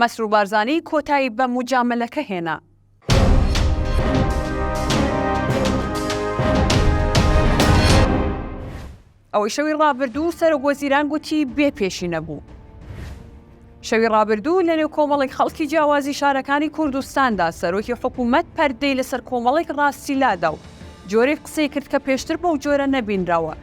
مەسرور بارزانی کۆتایی بە موجامەلەکە هێنا. ئەوەی شەوی ڕابردوو سەرۆک وەزیران گوتی بێ پێشی نەبوو. شەوی ڕابردوو لەنێو کۆمەڵێک خەڵکی جیاوازی شارەکانی کوردستاندا سەرۆکی حکوومەت پەردەی لەسەر کۆمەڵێک ڕاستی لادا و جۆرێک قسەی کرد کە پێشتر بەو جۆرە نەبینراوە.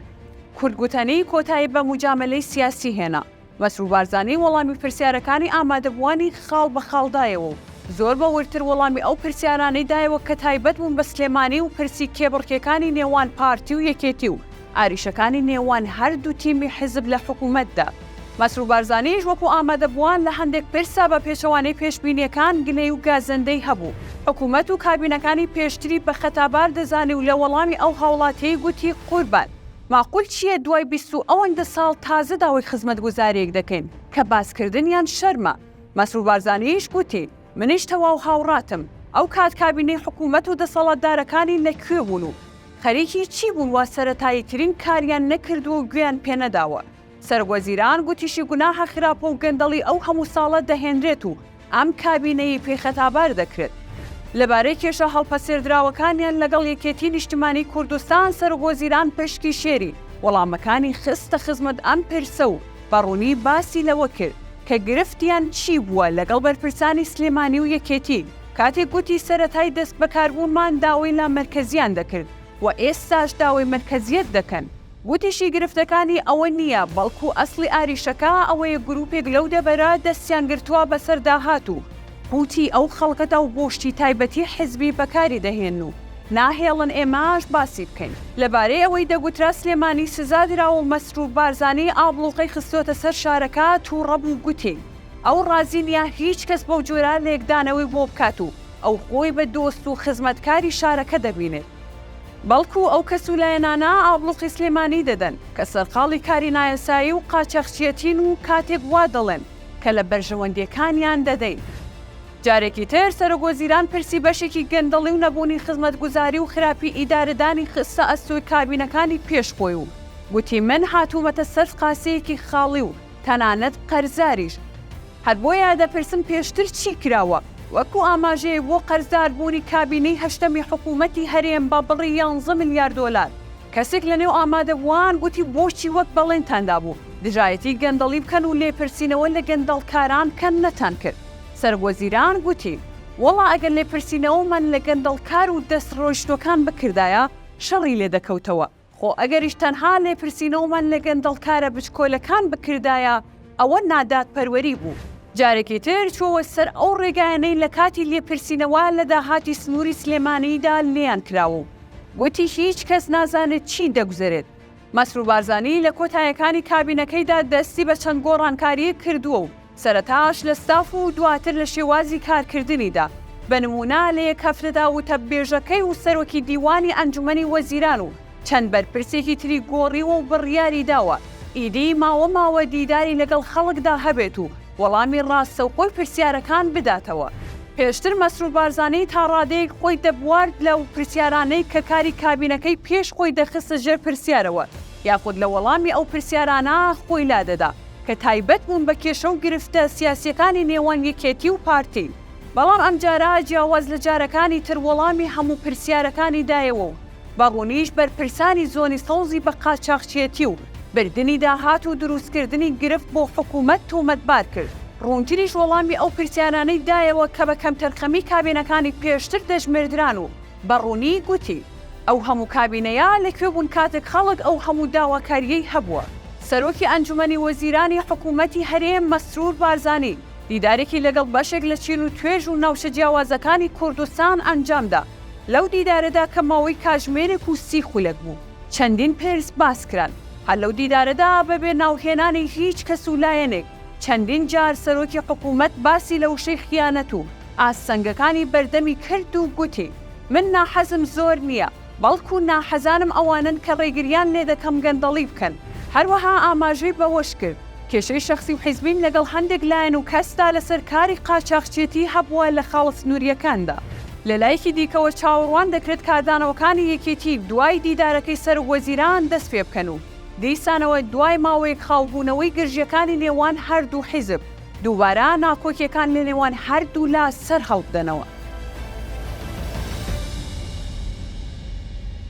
کورد گوتەنی کۆتایی بە موجامەلەی سیاسی هێنا. مەسرور بارزانی وەڵامی پرسیارەکانی ئامادەبووانی خاڵ بە خاڵ دایەوە و زۆر بە وردتر وەڵامی ئەو پرسیارانەی دایەوە کە تایبەت بوون بە سلێمانی و پرسی کێبڕکێکانی نێوان پارتی و یەکێتی و ئاریشەکانی نێوان هەردوو تیمی حیزب لە حکوومەتدا. مەسرور بارزانیش وەکوو ئامادەبووان لە هەندێک پرسا بە پێچەوانەی پێشبینییەکان گلەی و گازەندەی هەبوو، حکوومەت و کابینەکانی پێشتری بە خەتابار دەزانی و لە وەڵامی ئەو هاوڵاتییەی گوتی قوربان، ماقول چیە دوای بیست و ئەوەندە ساڵ تازە داوای خزمەتگوزاریەک دەکەین کە باسکردنیان شەرمە، مەسرور بارزانیش گوتی منیش تەواو هاوڕاتم، ئەو کات کابینەی حکومەت و دەسەڵاتدارەکانی لە کوێ بوون و خەریکی چی بوون وا سەرەتاییترین کاریان نەکردووە و گوێیان پێنەداوە، سەرۆکوەزیران گوتیشی گوناحە خراپە و گەندەڵی ئەو هەموو ساڵە دەهێنرێت و ئەم کابینەیەی پێی خەتابار دەکرێت لەبارەی کێشە هەڵپەسێردراوەکانیان لەگەڵ یەکێتی نیشتمانی کوردستان سەرۆکوەزیران پشکی شێری وەڵامەکانی خستە خزمەت ئەم پرسە و بە ڕوونی باسی لەوە کرد کە گرفتیان چی بووە لەگەڵ بەرپرسانی سلێمانی و یەکێتی کاتێک گوتی سەرەتای دەستبەکاربوونمان داوای لامەرکەزییان دەکرد و ئێستاش داوای مەرکەزییەت دەکەن. گوتیشی گرفتەکانی ئەوە نییە، بەڵکو ئەسڵی ئاریشەکە ئەوەیە گروپێک لەو دەڤەرە دەستیان گرتووە بەسەر داهات و قوتی ئەو خەڵکەدا و بۆ شتی تایبەتی حزبی بەکاری دەهێنن و ناهێڵن ئێمەش باسی بکەین. لەبارەی ئەوەی دەگوترا سلێمانی سزا دراوە و مەسرور بارزانی ئابڵوقەی خستۆتە سەر شارەکە توڕە بوو گوتی ئەو ڕازی نییە هیچ کەس بەو جۆرە لێکدانەوەی بۆ بکات و ئەو خۆی بە دۆست و خزمەتکاری شارەکە دەبینێت. بەڵکو ئەو کەس و لایەنانە ئابڵوقی سلێمانی دەدەن کە سەرقاڵی کاری نایاسایی و قاچاخچیەتین و کاتێک وا دەڵێن کە لە بەرژەوەندیەکانیان دەدەین، جارێکی تر سەرۆک وەزیران پرسی بەشێکی گەندەڵی و نەبوونی خزمەتگوزاری و خراپی ئیدارەدانی خستە ئەستۆی کابینەکانی پێش خۆی و گوتی من هاتوومەتە سەر قاسیەکی خاڵی و تەنانەت قەرزاریش. هەر بۆیە دەپرسم پێشتر چی کراوە؟ وەکو ئاماژەیەک بۆ قەرزدار بوونی کابینەی هەشتەمی حکوومەتی هەرێم بە بڕی یانزە ملیار دۆلار، کەسێک لە نێو ئامادەبووان گوتی بۆچی وەک بەڵێنتان دابوو دژایەتی گەندەڵی بکەن و لێپرسینەوە لە گەندەڵکاران بکەن نەتانکرد؟ سەرۆکوەزیران گوتی وەڵا ئەگەر لێپرسینەوەمان لە گەندەڵکار و دەستڕۆیشتووەکان بکردایە شەڕی لێدەکەوتەوە، خۆ ئەگەریش تەنها لێپرسینەوەمان لە گەندەڵکارە بچکۆلەکان بکردایە، ئەوە نادادپەروەری بوو. جارێکی تر چووە سەر ئەو ڕێگایانەی لە کاتی لێپرسینەوە لە داهاتی سنووری سلێمانیدا لێیان کراوە و گوتی هیچ کەس نازانێت چی دەگوزەرێت. مەسرور بارزانی لە کۆتایەکانی کابینەکەیدا دەستی بە چەند گۆڕانکارییەک کردووە و، سەرەتاش لە ستاف و دواتر لە شێوازی کارکردنیدا، بە نموونە لە یەک هەفتەدا وتەبێژەکەی و سەرۆکی دیوانی ئەنجومەنی وەزیران و چەند بەرپرسێکی تری گۆڕیوە و بڕیاری داوە ئیدی ماوە ماوە دیداری لەگەڵ خەڵکدا هەبێت و وەڵامی ڕاستەوخۆی پرسیارەکان بداتەوە. پێشتر مەسرور بارزانی تا ڕادەیەک خۆی دەبوارد لەو پرسیارانەی کە کاری کابینەکەی پێش خۆی دەخستە ژێر پرسیارەوە، یاخود لە وەڵامی ئەو پرسیارانە خۆی لادەدا کە تایبەت بوون بە کێشە و گرفتە سیاسییەکانی نێوان یەکێتی و پارتی، بەڵام ئەمجارە جیاواز لە جارەکانی تر وەڵامی هەموو پرسیارەکانی دایەوە و بە ڕوونیش بەرپرسانی زۆنی سەوزی بە قاچاخچیەتی و بردنی داهات و دروستکردنی گرفت بۆ حکوومەت تۆمەتبار کرد. ڕوونتریش وەڵامی ئەو پرسیارانەی دایەوە کە بە کەمتەرخەمی کابینەکانی پێشتر دەژمێردران و بە ڕوونی گوتی، ئەو هەموو کابینەیە لە کوێ بوون کاتێک خەڵک ئەو هەموو داواکارییەی هەبووە؟ سەرۆکی ئەنجومەنی وەزیرانی حکوومەتی هەرێم مەسرور بارزانی دیدارێکی لەگەڵ بەشێک لە چین و توێژ و ناوچە جیاوازەکانی کوردستان ئەنجام دا، لەو دیدارەدا کە ماوەی کاژمێرێک و سی خولەک بوو، چەندین پرس باس کران، هەر لەو دیدارەدا بە بێ ناوهێنانی هیچ کەس و لایەنێک چەندین جار سەرۆکی حکوومەت باسی لە وشەی خیانەت و، ئاستەنگەکانی بەردەمی کرد و گوتی، من ناحەزم زۆر نییە، بەڵکو ناحەزانم ئەوانەن کە ڕێگرییان لێدەکەم گەندەڵی بکەن. هەروەها ئاماژەی بەوەشکرد، کێشەی شەخسی و حیزبیم لەگەڵ هەندێک لایەن و کەسدا لەسەر کاری قاچاخچێتی هەبووە لە خاڵە سنوورییەکاندا. لەلایەکی دیکەوە چاوەڕوان دەکرێت کاردانەوەکانی یەکێتی دوای دیدارەکەی سەرۆکوەزیران دەستپێبکەن و دیسانەوە دوای ماوەیەک خاوبوونەوەی گرژییەکانی نێوان هەردوو حیزب، دووبارە ناکۆکیەکان لە نێوان هەردوولا سەرهەڵبدەنەوە.